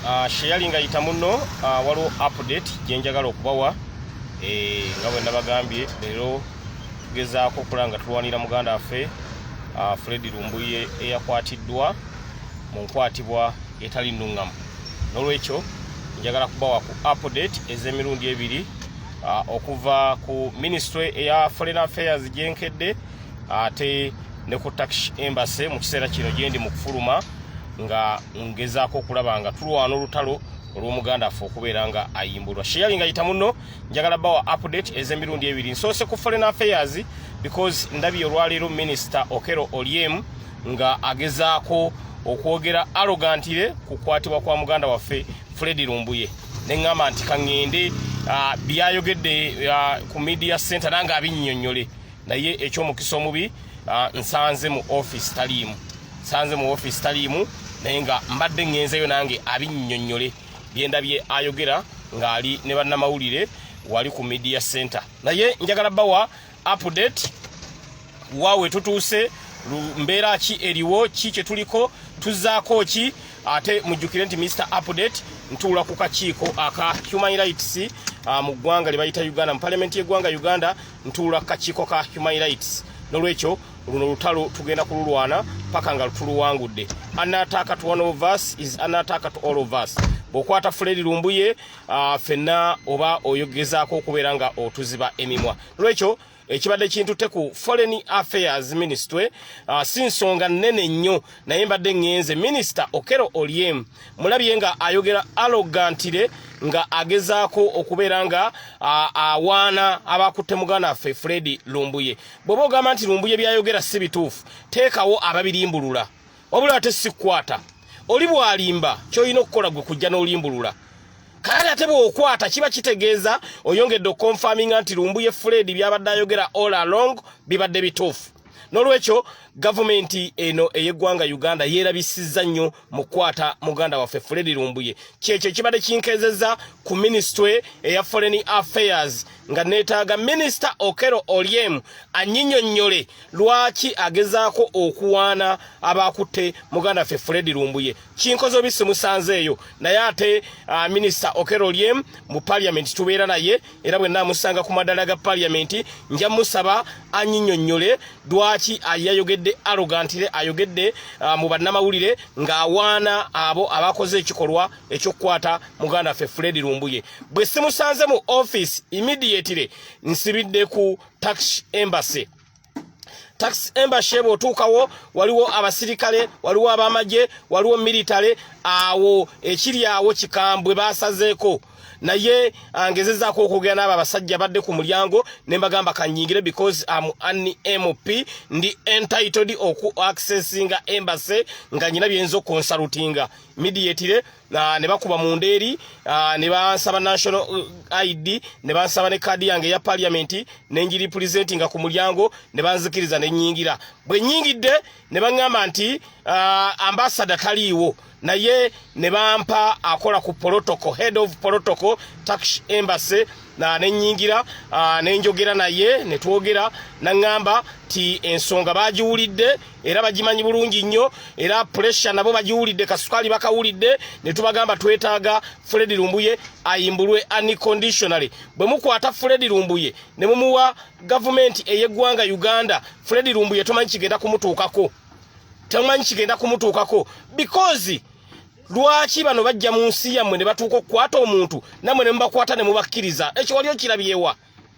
Ah, sheyali nga yita muno ah, waliwo update gyenjagala okubawa eh, nga bwe nabagambye leero tugezaako okulaba nga tulwanira muganda waffe ah, fredi lumbuye eyakwatiddwa mu nkwatibwa etali nuŋŋamu n'olwekyo njagala kubawa ku update ez'emirundi ebiri okuva ku ministry eya foreign affairs gyenkedde ate ne ku takish embase mu kiseera kino gyendi mu kufuluma nga ngezaako okulaba nga tulwana olutalo olwomuganda affe okubeera nga ayimbulwa sheyali nga yita muno njagala bawa update ezemirundi ebiri nsoose ku foreign affairs because ndabi olwaleero minisita okero olyem nga agezaako okwogera arogantire kukwatibwa kwa muganda waffe fred lumbuye neŋŋamba nti kaŋŋende ah, byayogedde ah, ku media center nange abinnyonnyole naye ekyomukisa omubi ah, nsanze mu office taliimu nsanze mu office taliimu naye nga mbadde ŋŋenzeyo nange abinnyonnyole byendabye ayogera ng'ali ne bannamawulire wali ku media center naye njagala bawa update waawe tutuuse mbeera ki eriwo ki kye tuliko tuzzaako ki ate mujjukire nti mr update ntuula ku kakiiko aka human rights ah, mu ggwanga lye bayita uganda mu palamenti y'eggwanga uganda ntuula kakiiko ka human rights nolwekyo luno lutalo tugenda kululwana paka nga lutuluwangudde anataka to one of us is anataka to all of us bwokwata fuledi lumbuye uh, fenna oba oyogezaako okubeera nga otuziba emimwa nolwekyo ekibadde kintutte ku foreign affairs ministry uh, si nsonga nnene nnyo naye mbadde ŋŋenze minisita okero olyem mulabye nga ayogera alogantire nga agezaako okubeera nga awaana abakutte muganda waffe fred lumbuye bweoba ogamba nti lumbuye byayogera si bituufu teekawo ababirimbulula wabula ate sikukwata oli bwalimba kyolina okukola gwe kujja n'olimbulula kale ate bwokwata kiba kitegeeza oyongedde okukonfaminga nti lumbuye fred byabadde ayogera all along bibadde bituufu n'olwekyo gavumenti eno ey'eggwanga uganda yeerabisizza nnyo mu kukwata muganda waffe fredi lumbuye kyekyo ekibadde kinkezeza ku minisitule eya foreign affairs nga neetaaga minisita okero olyem anyinyonnyole lwaki agezaako okuwaana abaakutte muganda waffe fredi lumbuye kinkoze obi simusanzeeyo naye ate uh, minisita okero olyem mu paliamenti tubeera naye era bwe naamusanga ku madala ga paliyamenti nja musaba anyinyonnyole lwaki yayogedde arogantire ayogedde uh, mu bannamawulire ng'awaana abo abakoze ekikolwa ekyokukwata muganda waffe fredi lumbuye bwe simusanze mu office immediately nsibidde ku tax embassy tax embassy bwotuukawo waliwo abasirikale waliwo abamagye waliwo military awo ekiri awo kikambwe basazeeko naye angezezaako okwogera n'abo abasajja badde ku mulyango ne mbagamba kanyingire because am an mp ndi entitled oku accessinga embassy nga nyina byeyinza okunsalutinga midiatire uh, ne bakuba mu ndeeri uh, ne bansaba national uh, id ne bansaba ne kaadi yange eya paliamenti ne njiri pulizentinga ku mulyango ne banzikiriza ne nyingira bwe nyingidde ne baŋŋamba nti uh, ambasada taliiwo naye ne bampa akola ku protocol head of protocol tax embassy na ne nyingira uh, ne njogera naye ne twogera na ŋŋamba ti ensonga bagiwulidde era bagimanyi bulungi nnyo era puresha nabo bagiwulidde kasukaali bakawulidde ne tubagamba twetaaga fredi lumbuye ayimbulwe unconditionally bwe mukwata fredi lumbuye ne mumuwa gavumenti ey'eggwanga uganda fredi lumbuye tomanyi kigenda kumutuukako tomanyi kigenda kumutuukako because lwaki bano bajja mu nsi yammwe ne batuuka okukwata omuntu nammwe ne mubakwata ne mubakkiriza ekyo wali okirabyewa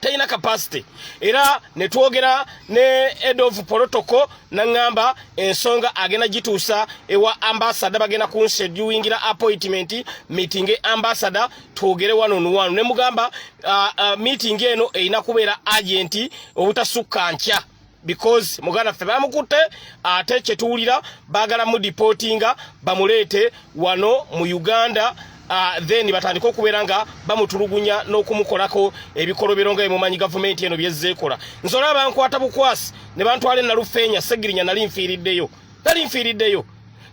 talina capacity era ne twogera ne head of protocol nangamba ensonga agenda gituusa ewa ambassador bagenda kunseduingira appointment meeting ambassador twogere wano nuwano ne mugamba uh, uh, meeting eno erina kubeera agenti obutasukka nkya because muganda ffe bamukutte ate kyetuwulira bagala mu deportinga bamuleete wano mu uganda Uh, then batandika okubeera nga bamutulugunya n'okumukolako ebikolobero nga emumanyi gavumenti eno byezzeekola nze olaba bankwata bukwasi ne bantwala enalufeenya segirinya nali nfiiriddeyo nali nfiiriddeyo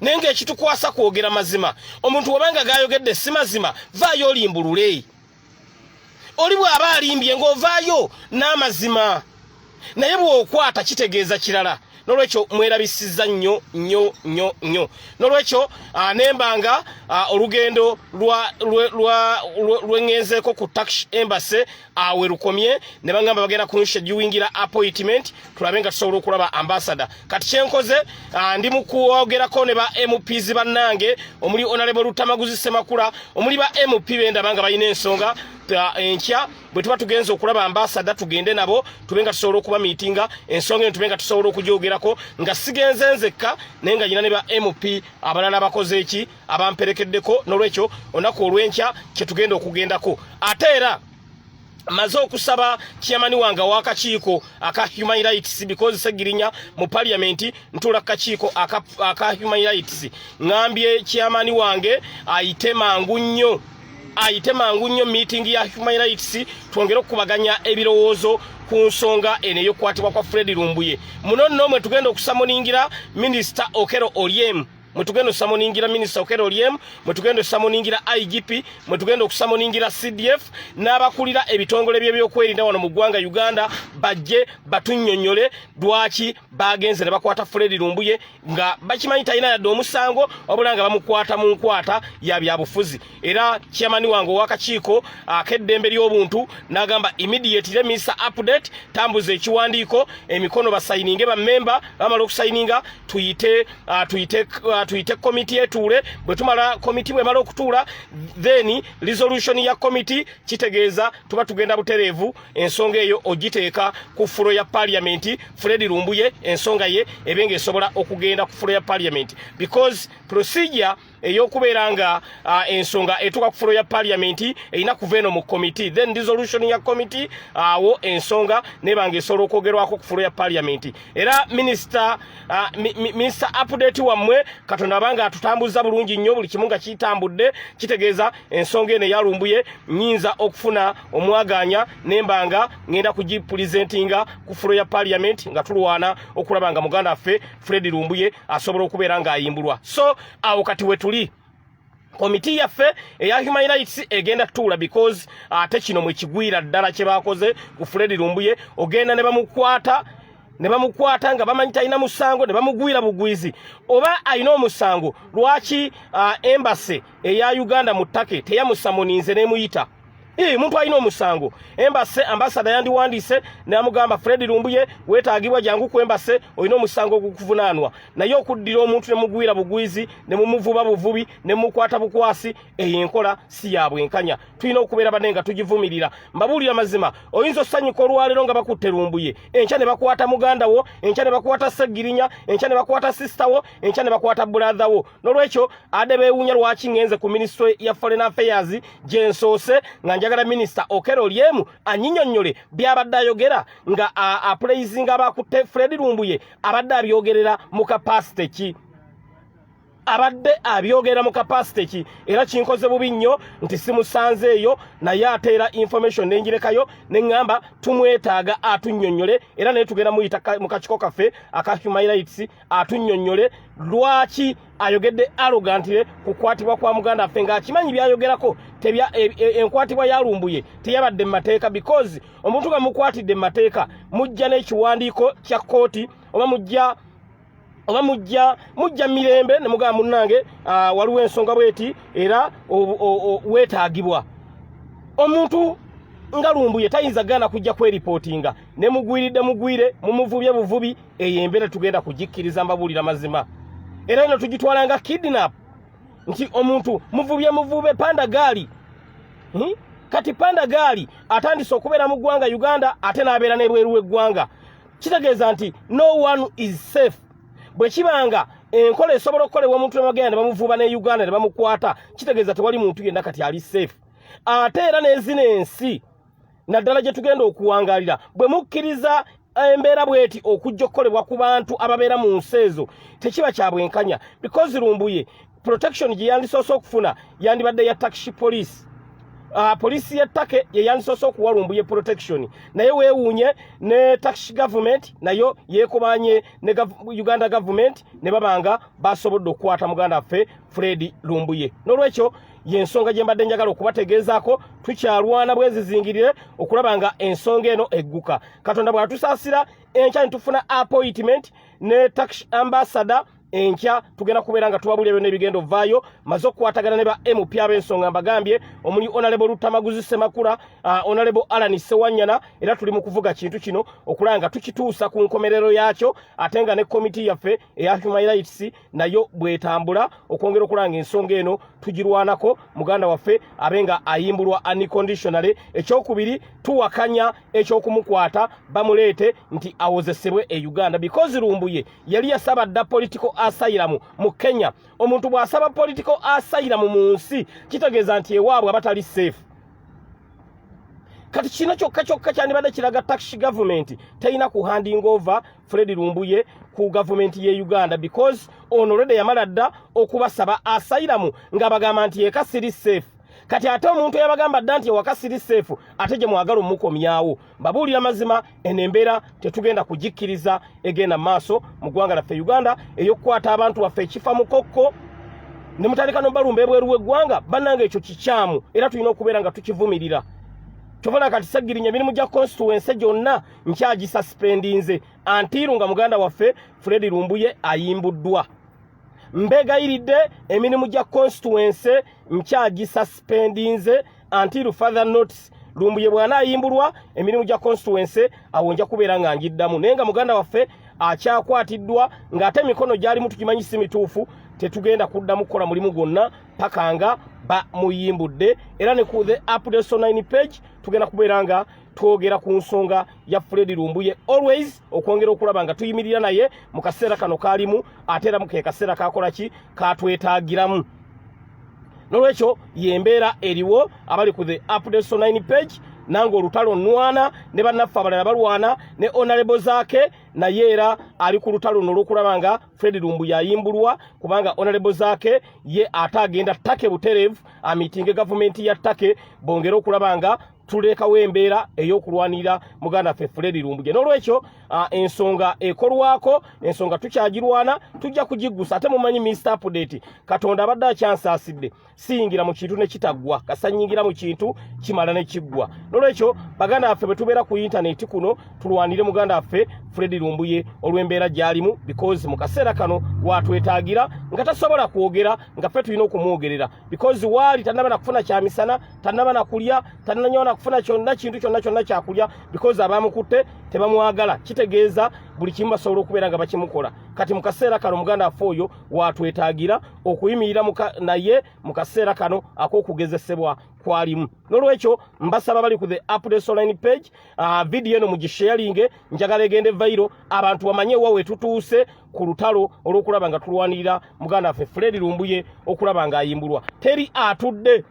naye ngaekitukwasa kwogera mazima omuntu wabanga gayogedde si mazima vaayo olimbulule oli bw'aba alimbye ng'ovaayo n'amazima naye bw'okwata kitegeeza kirala nolwekyo mwerabisiza nnyo nnyo nnyo nnyo nolwekyo ah, nembanga ah, olugendo lwengenzeeko ku tax embassy awe ah, lukomye ne bagamba bagenda kunsha giwingira appointment tulabe nga tusobola okulaba ambasada kati kyenkoze ah, ndi mukwogerako ne ba mps bannange omuli onalebo lutamaguzi semakula omuli ba mp bendaba nga balina ensonga ah, enkya bwe tuba tugenza okulaba ambasada tugende nabo tube nga tusobola okuba miitinga ensonga eno tube nga tusobola okugyogerako nga sigenze nzekka naye nga nyina ne ba mp abalala bakoze eki abamperekeddeko n'olwekyo olunaku olw'enkya kyetugenda okugendako ate era maze okusaba chairman wange wakakiiko aka human rights because segirinya mu parliament ntula kakiiko aka, aka human rights ngambye chairman wange ayite mangu nnyo ayite mangu nnyo meeting ya human rights twongere okukubaganya ebirowoozo ku nsonga eno eyokukwatibwa kwa fred lumbuye muno nno mwe tugenda okusamuningira minisita okero olyemu mwetugenda osamoningira minisita okera olyem mwetugenda osamoningira igp mwetugenda okusamoningira cdf n'abakulira ebitongole byebyokwerinda wano mu ggwanga uganda bajje batunyonyole lwaki bagenze ne bakwata fredi lumbuye nga bakimanyi talina yadde omusango wabula nga bamukwata mu nkwata ya byabufuzi era chairman wange owakakiiko akeddembe ly'obuntu n'agamba immediate remisa update tambuza ekiwandiiko emikono basayininge bamemba bamala okusayininga tuyite uh, tuyite uh, tuyite komiti etuule bwe tumala komiti bwemala okutuula then resolution ya komiti kitegeeza tuba tugenda butereevu ensonga eyo ogiteeka ku fulo ya parliament fred lumbuye ensonga ye ebenga esobola okugenda ku fulo ya parliament because procedure eyokubeera nga uh, ensonga etuka ku fulo ya parliament erina kuva eno mu committee then dissolution ya committee awo uh, ensonga nebanga esobola okwogerwako ku fulo ya parliament era minister uh, mi, mi, minister update wammwe katonda abanga atutambuza bulungi nnyo buli kimu nga kitambudde kitegeeza ensonga eno eyalumbuye nyinza okufuna omwaganya nembanga ngenda kugipulizentinga ku fulo ya parliament nga tulwana okulaba nga muganda ffe fred lumbuye asobola okubeera ng'ayimbulwa so awo kati wetuli komiti yaffe eya human rights egenda tuula because ate kino mwekigwira ddala kyebakoze ku fred lumbuye ogenda ne bamukwata ne bamukwata nga bamanyi talina musango ne bamugwira bugwizi oba alina omusango lwaki uh, embase eya uganda mu take teyamusamoninze nemuyita Ii, muntu alina omusango embase ambasada yandiwandiise namugamba fredi lumbuye wetaagibwa jangu ku embase olina omusango ogukuvunaanwa naye okuddira omuntu nemugwira bugwizi nemumuvuba buvubi nemukwata bukwasi eyo enkola si ya bwenkanya tulina okubeera bane nga tugivumirira mbabuulira mazima oyinza osanyuka olwaleero nga bakutte lumbuye enkya ne bakwata muganda wo enkya ne bakwata segirinya enkya ne bakwata sisita wo enkya ne bakwata buladha wo nolwekyo ade bewunya lwaki ngenze ku ministry ya foreign affairs gyensoose nga njagala minister okero lyemu anyinyonyole byabadde ayogera nga apulaizinga abakutte fred lumbuye abadde abyogerera mu kapasite ki abadde abyogera mu kapasite ki era kinkoze bubi nnyo nti simusanze eyo naye ateera information nenjirekayo neŋŋamba tumwetaaga atunyonyole era naye tugenda muyita mu kakiko kaffe aka human rights atunnyonnyole lwaki ayogedde arogantire ku kwatibwa kwa muganda affe ng'akimanyi byayogerako tebya e, e, enkwatibwa yalumbuye teyabadde mu mateeka because omuntu nga mukwatidde mu mateeka mujja n'ekiwandiiko kya kkooti oba mujja oba mujja mujja mirembe ne mugamba munnange ah, waliwo ensonga bweti era weetaagibwa omuntu nga lumbuye tayinza gaana kujja kweripootinga ne mugwiridde mugwire mumuvubye buvubi eyo embeera tugenda kugikkiriza mbabuulira mazima era eno tugitwala nga kidnap nti omuntu muvubye muvube panda gaali hmm? kati panda gaali atandise okubeera mu ggwanga uganda ate n'abeera n'ebweru w'eggwanga kitegeeza nti no one is safe bwe kiba nga enkola esobola okukolebwa omuntu nemagenda ne bamuvuba ne uganda ne bamukwata kitegeeza tewali muntu yenna kati ali safe ate era n'ezina ensi naddala gye tugenda okuwangalira bwe mukkiriza embeera bweti okujja okukolebwa ku bantu ababeera mu nsi ezo tekiba kya bwenkanya because lumbuye protection gye yandisoose okufuna yandibadde ya taxi police uh, police ya take ye yandisoose okuwa lumbuye protection naye weewuunye ne taxi government nayo yeekubanye ne gav uganda government ne babanga basobodde okukwata muganda waffe fredi lumbuye n'olwekyo yensonga gye mbadde njagala okubategeezaako tukyalwana bwezizingirire okulaba nga ensonga eno egguka katonda bwatusaasira enkya ne tufuna appointment ne tax ambassador enkya tugenda kubeera nga tubabulira byonna ebigenda ovaayo maze okukwatagana ne ba mp ab'ensonga mbagambye omuli onalebo lutamaguzi semakula uh, onalebo alan sewanyana era tuli mu kuvuga kintu kino okulaba nga tukituusa ku nkomerero yaakyo ate nga ne komiti yaffe eya human rights nayo bwetambula okwongera okulanga ensonga eno tugirwanako muganda waffe abe nga ayimbulwa unconditionally ekyokubiri tuwakanya ekyokumukwata bamuleete nti awozesebwe e uganda because lumbuye yali yasaba dda political asailamu mu kenya omuntu bw'asaba political asailamu mu nsi kitegeeza nti ewaabwe aba tali safe kati kino kyokka kyokka kyandibadde kiraga taxi gavumenti terina kuhandinga ova Fred Lumbuye ku government ye Uganda because ono already yamala dda okubasaba asylum nga bagamba nti eka siri safe kati ate omuntu yabagamba dda nti ewaka siri safe ate gye mwagala omukomyawo babuulira mazima eno embeera tetugenda kugikkiriza egenda maaso mu ggwanga laffe Uganda ey'okukwata abantu baffe ekifa mukokko ne mutandika nobalumba ebweru w'eggwanga bannanga ekyo kikyamu era tulina okubeera nga tukivumirira kyobona kati sagirinya emirimu gya constituency gyonna nkyagisuspendinze antiiru nga muganda waffe fredi lumbuye ayimbuddwa mbegayiridde emirimu gya constituency nkyagisuspendinze antiiru father notes lumbuye bwana ayimbulwa emirimu gya constituency awo nja kubeera nga ngiddamu naye nga muganda waffe akyakwatiddwa ng'ate emikono gyali mutukimanyi si mituufu tetugenda kuddamu kukola mulimu gwonna paka nga bamuyimbudde era ne ku the update so 9 page tugenda kubeera nga twogera ku nsonga ya Fred Lumbuye always okwongera okulaba nga tuyimirira naye mu kaseera kano kaalimu ate era mu ke kaseera kakola ki katwetaagiramu nolwekyo yembeera eriwo abali ku the updates on 9 page nange olutalo nwana ne bannaffe abalala balwana ne onalebo zaake naye era ali ku lutalo luno olwokulaba nga fred lumbu yayimbulwa kubanga onalebo zaake ye ate agenda take buterevu amitinge gavumenti ya take bongere okulaba nga tulekawo embeera ey'okulwanirira muganda ffe fuledi lumbuge n'olwekyo ah, ensonga ekolwako ensonga tukyagirwana tujja kugiggusa ate mumanyi minisita apudeti katonda abadde akyansaasidde siyingira mu kintu ne kitaggwa kasanyingira mu kintu kimala ne kiggwa n'olwekyo baganda baffe bwe tubeera ku yintaneti kuno tulwanire muganda waffe fuledi lumbuye olw'embeera gy'alimu bikozi mu kaseera kano watwetaagira nga tasobola kwogera nga ffe tulina okumwogerera bikozi waali tannaba na kufuna kyamisana tanaba nakulya tananyo nakufuna kyonna kintu kyonna kyonna kyakulya because abamukutte tebamwagala kitegeeza buli kimu basobola okubeera nga bakimukola kati mu kaseera kano muganda affe oyo watwetaagira okuyimirira naye mu kaseera kano ak'okugezesebwa kwalimu nolwekyo mbasaba bali ku the updates online page uh, video eno mugisharinge njagala egende vairo abantu bamanye wa wetutuuse ku lutalo olwokulaba nga tulwanirira muganda affe fredi lumbuye okulaba nga ayimbulwa teri atudde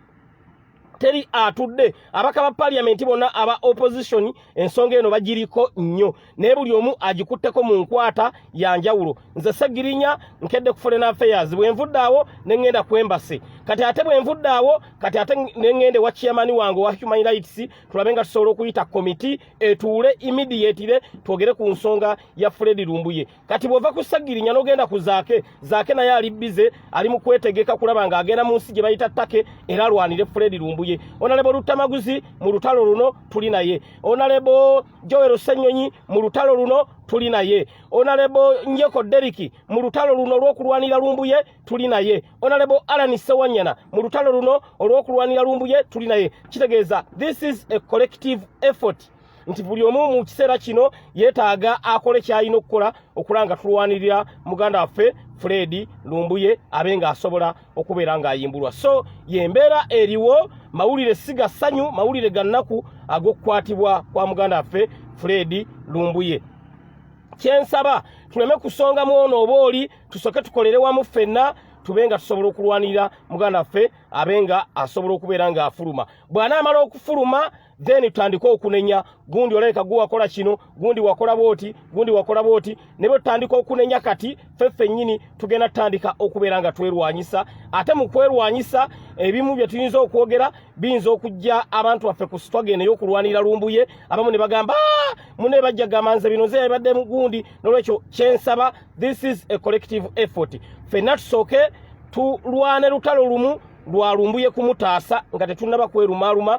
teri atudde abaka ba parliament bona aba opposition ensonga eno bagiriko nnyo naye buli omu agikutteko mu nkwata ya njawulo nze segirinya nkedde ku foreign affairs bwe nvudde awo ne ŋŋenda ku embasi kati ate bwe nvudde awo kati ate ne ŋŋende wa chairman wange wa human rights tulabe nga tusobola okuyita komiti etuule immediately twogere ku nsonga ya fredi lumbuye kati bwova ku sagirinya nogenda ku zaake zaake naye ali bize ali mu kwetegeka kulaba nga agenda mu nsi gye bayita take era alwanire fredi lumbuye onalebo lutamaguzi mu lutalo luno tuli naye onalebo jowero senyonyi mu lutalo luno tuli naye onalebo njeko deriki mu lutalo luno olw'okulwanira lumbuye tuli naye onalebo alani sewanyana mu lutalo luno olw'okulwanira lumbuye tuli naye kitegeeza this is a collective effort nti buli omu mu kiseera kino yeetaaga akole ky'alina okukola okula nga tulwanirira muganda waffe fredi lumbuye abe ng'asobola okubeera ng'ayimbulwa so yembeera eriwo mawulire si ga ssanyu mawulire ga nnaku ag'okukwatibwa kwa muganda waffe fredi lumbuye kyensaba tuleme kusonga mu ono oba oli tusooke tukolere wamu ffenna tube nga tusobola okulwanirira muganda waffe abe nga asobola okubeera ng'afuluma bw'anaamala okufuluma then tutandike okunenya gundi olabika gwe wakola kino gundi wakola bwoti gundi wakola bwoti ne bwe tutandika okunenya kati ffe fennyini tugenda tutandika okubeera nga twerwanyisa ate mu kwerwanyisa ebimu bye tuyinza okwogera biyinza okujja abantu baffe ku sitwage naye okulwanira lumbuye abamu ne bagamba ah, mune bajja gamba nze bino nze yabadde mu gundi n'olwekyo kyensaba this is a collective effort fenna tusooke tulwane lutalo lumu lwalumbuye kumutaasa nga tetunnaba kwerumaaluma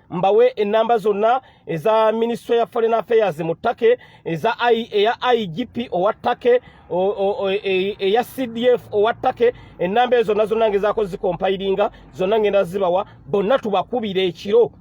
mbawe ennamba zonna eza minisitule ya foreign affairs mu take eza eya igp owa take e, eya cdf owa take ennamba ezo zonna zonna ngezaako zikompayiringa zonna ngenda zibawa bonna tubakubire ekiro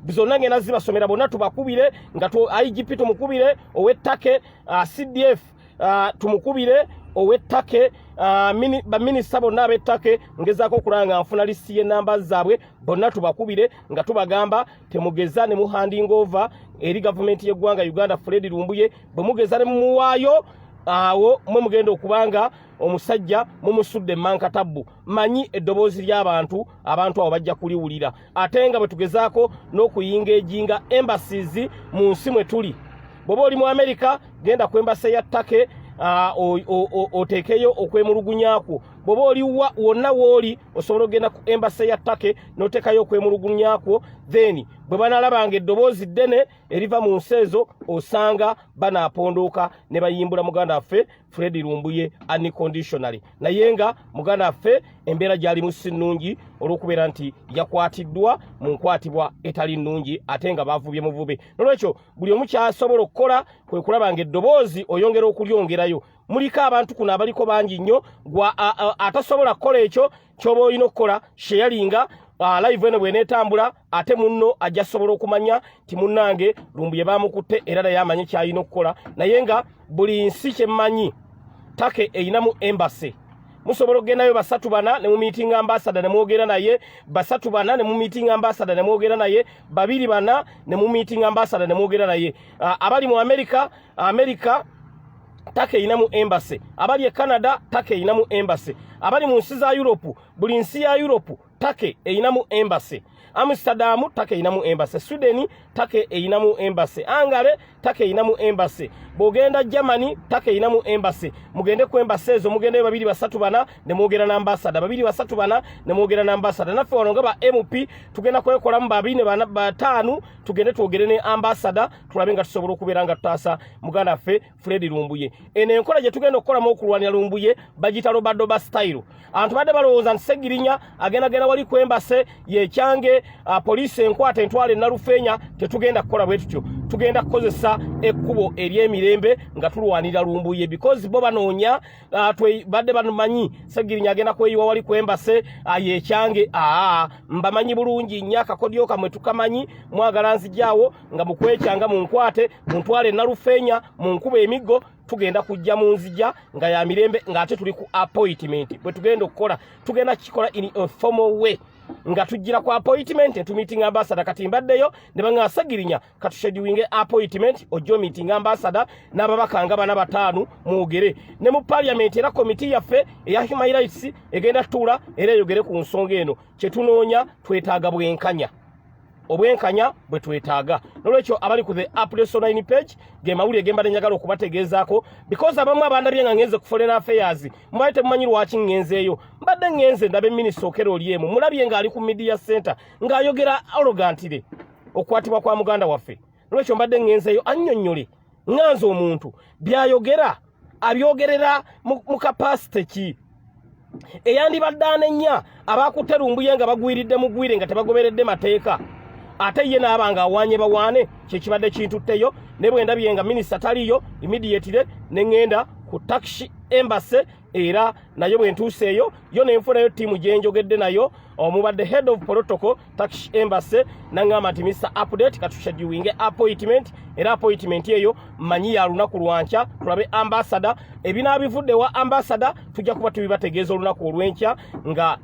zonna ngenda zibasomera bonna tubakubire nga igp tumukubire ow'ettake uh, cdf uh, tumukubire owettake uh, mini, baminisita bonna abettake ngezaako okulaba nga nfuna lisi y'enamba zaabwe bonna tubakubire nga tubagamba temugeza ne muhanding over eri gavumenti y'eggwanga uganda fredi lumbuye bwe mugeza ne mumuwaayo awo mwe mugenda okuba nga omusajja mumusudde emankatabbu manyi eddoboozi ly'abantu abantu abo bajja kuliwulira ate nga bwe tugezaako n'okuyinga ejinga embassies mu nsi mwe tuli bw'oba oli mu amerika genda ku embase ya take ah, oteekeyo okwemulugunya kwo bw'oba oli wonna wooli osobola okugenda ku embase ya take n'oteekayo okwemulugunya kwo then bwe banaalabanga eddoboozi ddene eriva mu nsi ezo osanga banaapondooka ne bayimbula muganda waffe Fred Lumbuye unconditionally naye nga muganda affe embeera gyalimu si nnungi olw'okubeera nti yakwatiddwa mu nkwatibwa etali nnungi ate nga bavubye muvube nolwekyo buli omu kyasobola okukola kwe kulaba nga eddoboozi oyongera okulyongerayo muliko abantu kuno abaliko bangi nnyo gwa atasobola kukola ekyo kyoba olina okukola sheyalinga ah, live eno bwenetambula ate munno ajja sobola okumanya nti munnange lumbuye bamukutte era naye amanyi kyalina okukola naye nga buli nsi kyemmanyi take erinamu embase musobola okugendayo basatu bana ne mumiitinga ambasada ne mwogera naye basatu bana ne mumiitinga ambasada ne mwogera naye babiri bana ne mumiitinga ambasada ne mwogera naye uh, abali mu amerika amerika take erinamu embase abali e canada take erinamu embase abali mu nsi za europe buli nsi ya europe take eyinamu embassy amsterdam take eyinamu embassy sweden take eyinamu embassy angare take eyinamu embassy bwogenda germany take eyinamu embassy mugende ku embassy ezo mugendayo babiri basatu bana ne mwogera na ambasada babiri basatu bana ne mwogera na ambasada naffe wano nga ba mp tugenda kwekolamu babiri ne bana bataanu tugende twogere ne ambasada tulabe nga tusobola okubeera nga tutaasa muganda ffe Fred Lumbuye eno enkola gye tugenda okukolamu okulwanira Lumbuye bagita lobadoba style abantu badde balowooza nti Segirinya agenda genda wali kwembase yekyange uh, poliisi enkwata entwala enalufeenya tetugenda kukola bwe tutyo tugenda kukozesa ekkubo ery'emirembe nga tulwanira Lumbuye because bo banoonya uh, badde bamanyi Segirinya agenda kweyiwa wali kwembase uh, yekyange aa mbamanyi bulungi nnyo akakodyo kamwe tukamanyi mwagala nzijaawo nga mukwekyanga munkwate muntwale nalufenya munkuba emiggo tugenda kujja mu nzija nga ya mirembe ng'ate tuli ku appointment bwe tugenda okukola tugenda kukikola in a formal way nga tujjira ku appointment ne tumiitinga ambasada kati mbaddeyo ne banga asagirinya katushediwinge appointment ojjo miitinga ambasada n'ababaka nga bana bataano mwogere ne mu parliament era komiti yaffe eya human rights egenda tutuula era eyogere ku nsonga eno kye tunoonya twetaaga bwenkanya obwenkanya bwe twetaaga nolwekyo abali ku the apsonine page ge mawulire ge mbadde njagala okubategeezaako because abamu abandabye nga ngenze ku foreign affairs mubadde temumanyi lwaki ngenzeeyo mbadde ngenze ndabe minisita okera oli emu mulabye ng'ali ku media center ng'ayogera arogantire okukwatibwa kwa muganda waffe nolwekyo mbadde ŋŋenzeeyo annyonnyole nga nze omuntu by'ayogera abyogerera mu kapasite ki eyandibadde anenya abaakutte lumbuye nga bagwiridde mugwire nga tebagoberedde mateeka ate ye naaba nga awaanye bawaane kyekibadde kintutteyo ne bwe ndabye nga minisita taliyo imidiyetire ne ŋŋenda ku takisi embase era nayo bwe ntuuseeyo yo ne nfunayo ttiimu gye njogedde nayo omubadde head of protocol tax embassy nangamba nti mr update katushediwinge appointment era appointment eyo manyi ya lunaku lwankya tulabe ambasada ebinaabivudde wa ambasada tujja kuba tubibategeeza olunaku olwenkya nga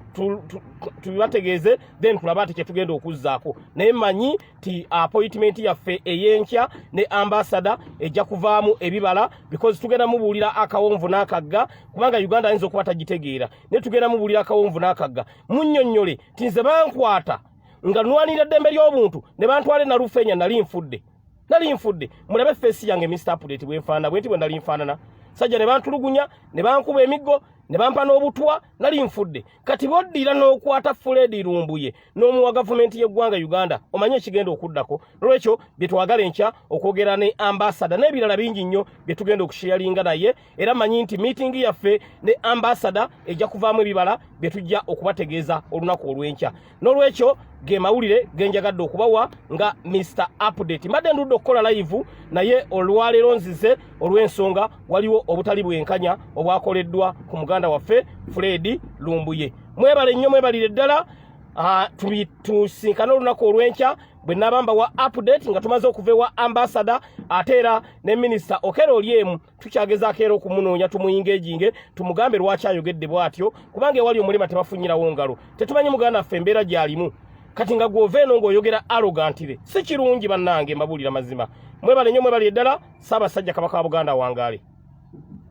tubibategeeze then tulabe ati kyetugenda okuzzaako naye manyi ti appointment yaffe eyenkya ne ambassador ejja kuvaamu ebibala because tugenda mubuulira akawonvu n'akagga kubanga uganda ayinza okuba tagitegeera naye tugenda mubuulira akawonvu n'akagga munnyonnyole ti nze bankwata nga nwanirira ddembe ly'obuntu ne bantwale nalufeenya nali nfudde nali nfudde mulabe feesi yange mr apudate bwenfaanana bwe nti bwe nali nfaanana sajja ne bantulugunya ne bankuba emiggo ne bampa n'obutwa nali nfudde kati boddira n'okwata fuledi lumbuye n'omu wa gavumenti y'eggwanga uganda omanyi ekigenda okuddako nolwekyo bye twagala enkya okwogera ne ambasada n'ebirala bingi nnyo bye tugenda okusheyalinga naye era manyi nti miitingi yaffe ne ambasada ejja kuvaamu ebibala bye tujja okubategeeza olunaku olw'enkya n'olwekyo ge mawulire ge njagadde okubawa nga mr update mbadde ndudde okukola layivu naye olwaleero nzize olw'ensonga waliwo obutali bwenkanya obwakoleddwa ku muganda waffe fredi lumbuye mwebale nnyo mwebalire ddala Ah, tusinkane olunaku olwenkya bwe nabamba wa update nga tumaze okuva ewa ambasada ate era ne minisita okera oli emu tukyagezaako era okumunoonya tumuyinga ejinge tumugambe lwaki ayogedde bwatyo kubanga ewali omulima tebafunyirawo ngalo tetumanyi muganda ffe embeera gyalimu kati nga gwova eno ng'oyogera arogantire si kirungi bannange mbabuulira mazima mwebale nnyo mwebale eddala saabasajja kabaka wa buganda wangaale